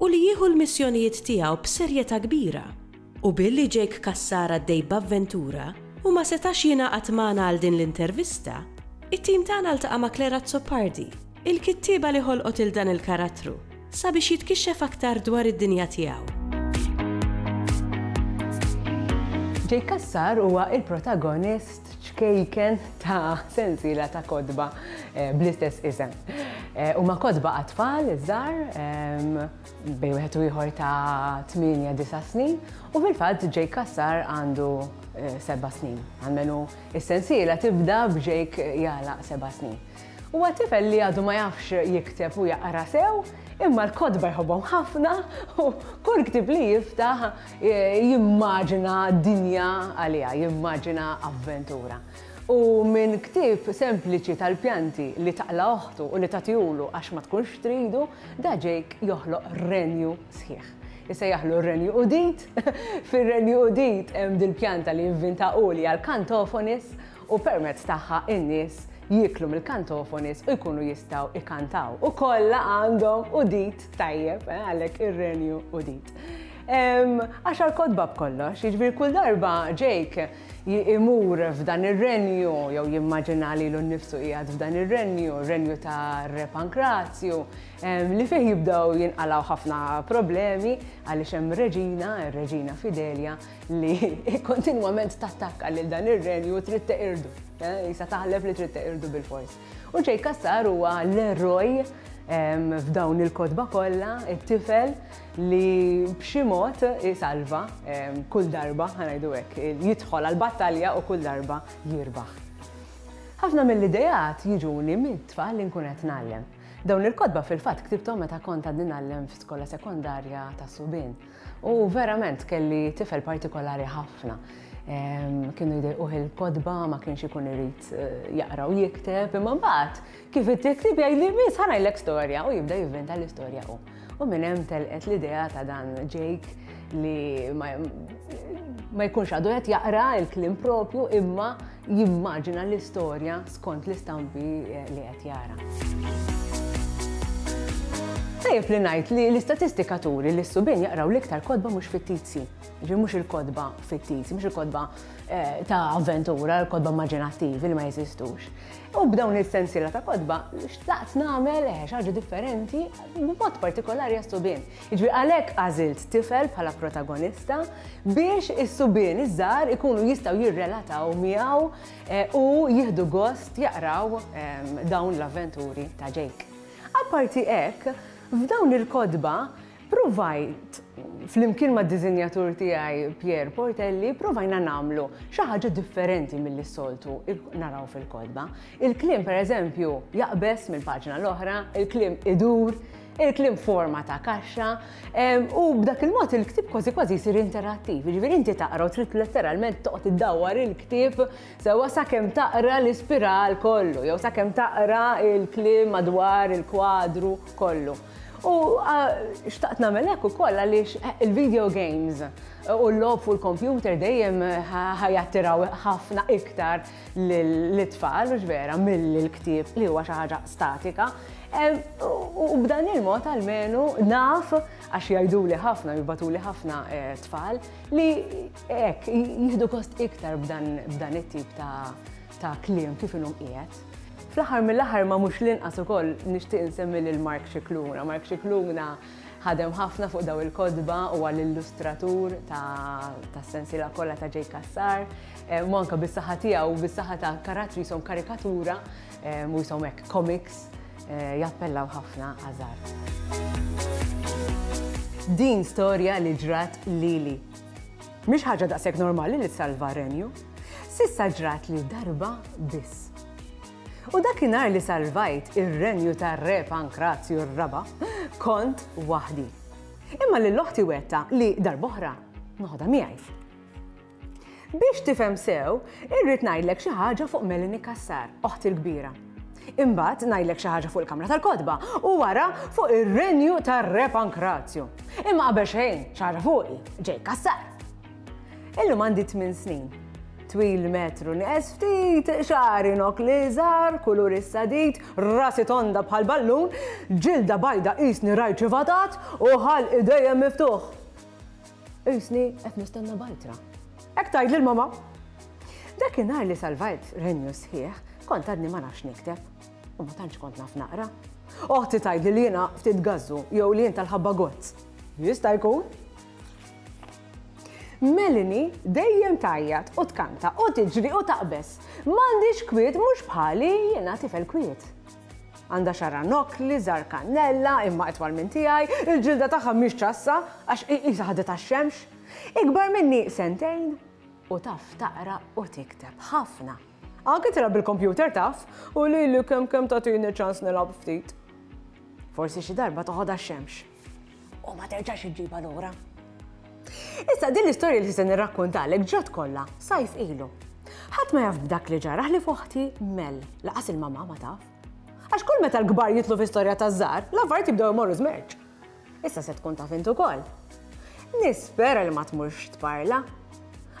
u li jieħu l-missjonijiet tiegħu b'serjetà kbira, u billi Jake Cassar għaddej b'avventura u ma setax jingħaqad magħna għal din l-intervista, it-tim tagħna ltaqa' ma' Claire Azzopardi, il-kittieba li ħolqot lil dan il-karattru, sabiex jitkixxef aktar dwar id-dinja tiegħu. Jake Cassar huwa l-protagonist ċkejken ta' sensiela ta' kotba bl-istess isem. Huma kotba għat-tfal iż-żgħar bejn wieħed u ieħor ta' 8-9 snin u fil-fatt Jake Cassar għandu seba' snin. Għalmenu is-sensiela tibda b'Jake jagħlaq seba' snin. Huwa tifel li għadu ma jafx jikteb u jaqra sew, imma l-kotba jħobbhom ħafna u kull ktieb li jiftaħ Jimmaġina dinja għaliha, jimmaġina avventura. U minn ktieb sempliċi tal-pjanti li taqla' oħtu u li tagħtihulu għax ma tkunx tridu, Da Jake joħloq renju sħiħ. Isejjaħlu r-renju udit. Fir-renju udit hemm dil-pjanta li invvinta hu li hija l-kantofonis u permezz tagħha n-nies jieklu mill-kantofonis u jkunu jistgħu ikantaw. U kollha għandhom udit tajjeb, għalhekk ir-renju udit. Għaxar kotba b'kollox, jiġifieri kull darba Jake imur f'dan ir-renju jew jimmaġina lilu nnifsu qiegħed f'dan ir-renju, renju ta' Re Pankrazju, li fih jibdew jinqalgħu ħafna problemi għaliex hemm reġina, ir-reġina Fidelia, li kontinwament tattakka lil dan ir-renju u trid teqirdu. Isa taħlef li trid teqirdu bilfors. U Jay Cassar huwa l-eroj f'dawn il-kotba kollha, it-tifel li b'xi mod isalva kull darba, ħanajdu hekk, jidħol għall-battalja u kull darba jirbaħ. Ħafna mill-idejat jiġuni mit-tfal li nkun qed ngħallem. Dawn il-kotba fil-fatt ktibthom meta kont għadni ngħallem f'skola sekondarja ta' subien. U verament kelli tifel partikolari ħafna. Kienu jdejquh il-kodba, ma kienx ikun irid eh, jaqra u jikteb, imma mbagħad kif it-tiktib jgħidli biss ħanajlek storja u jibda jivventa l-istorja u. U minn hemm telqet l-idea ta' dan Jake li ma jkunx għadu qed jaqra il-klim propju imma jimmaġina l-istorja skont l-istampi eh, li qed jara. Tajjeb li ngħid li l-istatistika turi li s-subin jaqraw l-iktar kodba mhux fittizji. Ġi mhux il-kodba fittizji, mhux il-kodba eh, ta' avventura, il-kodba immaġinattivi li ma jeżistux. U b'dawn il-sensila ta' kodba, xtaqt nagħmel eh, ħaġa differenti b'mod partikolari għas-subin. Jiġifieri għalhekk għażilt tifel bħala protagonista biex is-subien iż-żgħar ikunu jistgħu jirrelataw miegħu u jieħdu gost jaqraw dawn l-avventuri ta' Jake. Apparti hekk, f'dawn il-kotba pruvajt, flimkien mad-diżinjatur tiegħi Pierre Portelli, pruvajna nagħmlu xi ħaġa differenti milli s-soltu naraw fil-kotba. Il-kliem pereżempju jaqbeż mill-paġna l-oħra, il-kliem idur, il-klim forma ta' kaxxa, u b'dak il-mod il-ktib kważi kważi jsir interattiv. Ġifieri inti taqra u trid letteralment toqgħod iddawwar il-ktib sewwa sakemm taqra l-ispiral kollu, jew sakemm taqra il-klim madwar il-kwadru kollu. U xtaqt nagħmel hekk ukoll għaliex eh, il-video games u l-lob u l-kompjuter dejjem ħajattiraw ħafna iktar lit-tfal, hux vera, mill-ktieb li huwa xi ħaġa statika. U b'dan il-mod almenu naf għax jgħiduli ħafna, jibbatuli ħafna eh, tfal li hekk jieħdu kost iktar b'dan it-tip ta' kliem kif inhom qiegħed. Fl-aħħar mill-aħħar ma mhux l-inqas ukoll nixtieq insemmi lil Mark Xikluna. Mark Xikluna Ħadem ħafna fuq dawn il-kotba, huwa l-illustratur tas-sensiela kollha ta' Jake Cassar, u anke bis-saħħa tiegħu u bis-saħħa ta' karattri jisom karikatura, u jisom hekk comics, jappellaw ħafna għaż-żgħar. Din storja li ġrat lili. Mhix ħaġa daqshekk normali li ssalva r-Renju. S'issa ġratli darba biss. U dakinhar li salvajt ir-renju tar-Re Pankrazju r-Raba', kont waħdi. Imma lil oħti wegħdtha li darb'oħra noħodha miegħi. Biex tifhem sew, irrid ngħidlek xi ħaġa fuq Melanie Kassar, oħti l-kbira. Imbagħad ngħidlek xi ħaġa fuq il-Kamra tal-Kotba u wara fuq ir-renju tar-Re Pankrazju. Imma qabel xejn xi ħaġa fuqi, ġej Kassar. Illum għandi 8 snin. Twil metru nqes ftit, xari nok li żar, kulur is-sadid, rasi tonda bħal ballun, ġilda bajda qisni rajċi fatat u ħal idejjem miftuħ. Qisni qed nistenna bajtra. Hekk tgħid lil mama. Dakinhar li salvajt renju sħiħ, kont għadni ma nafx nikteb u ma tantx kont naf naqra. Oħti tgħid li jiena ftit gazzu jew li jien tal-ħabba gozz. Jista' jkun. Melanie dejjem tgħajjat u tkanta u tiġri u taqbeż. M'għandix kwiet mhux bħali jiena tifel kwiet. Għandha xara nokli, żar kannella, imma itwal minn tiegħi, il-ġilda tagħha mhix ċassa għax qisha ħadet għax-xemx. Ikbar minni sentejn u taf taqra u tikteb ħafna. Anke tilgħab bil-kompjuter taf u lili kemm kemm tagħtini ċans nilgħab ftit. Forsi xi darba toħodha xemx. u ma terġax iġġibha lura. Issa din l-istorja li se nirrakkontalek ġrat kollha sajf ilu. Ħadd ma jaf b'dak li ġara li foħti mel, laqas il-mama ma taf. Għax kull meta l-kbar jitlu fi storja ta' żgħar, l-affarijiet jibdew imorru żmerġ. Issa se tkun taf intu ukoll. Nispera li ma tmurx tparla.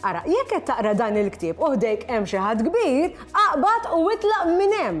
Ara, jekk qed taqra dan il-ktieb u ħdejk hemm xi ħadd kbir, aqbad u itlaq minn hemm.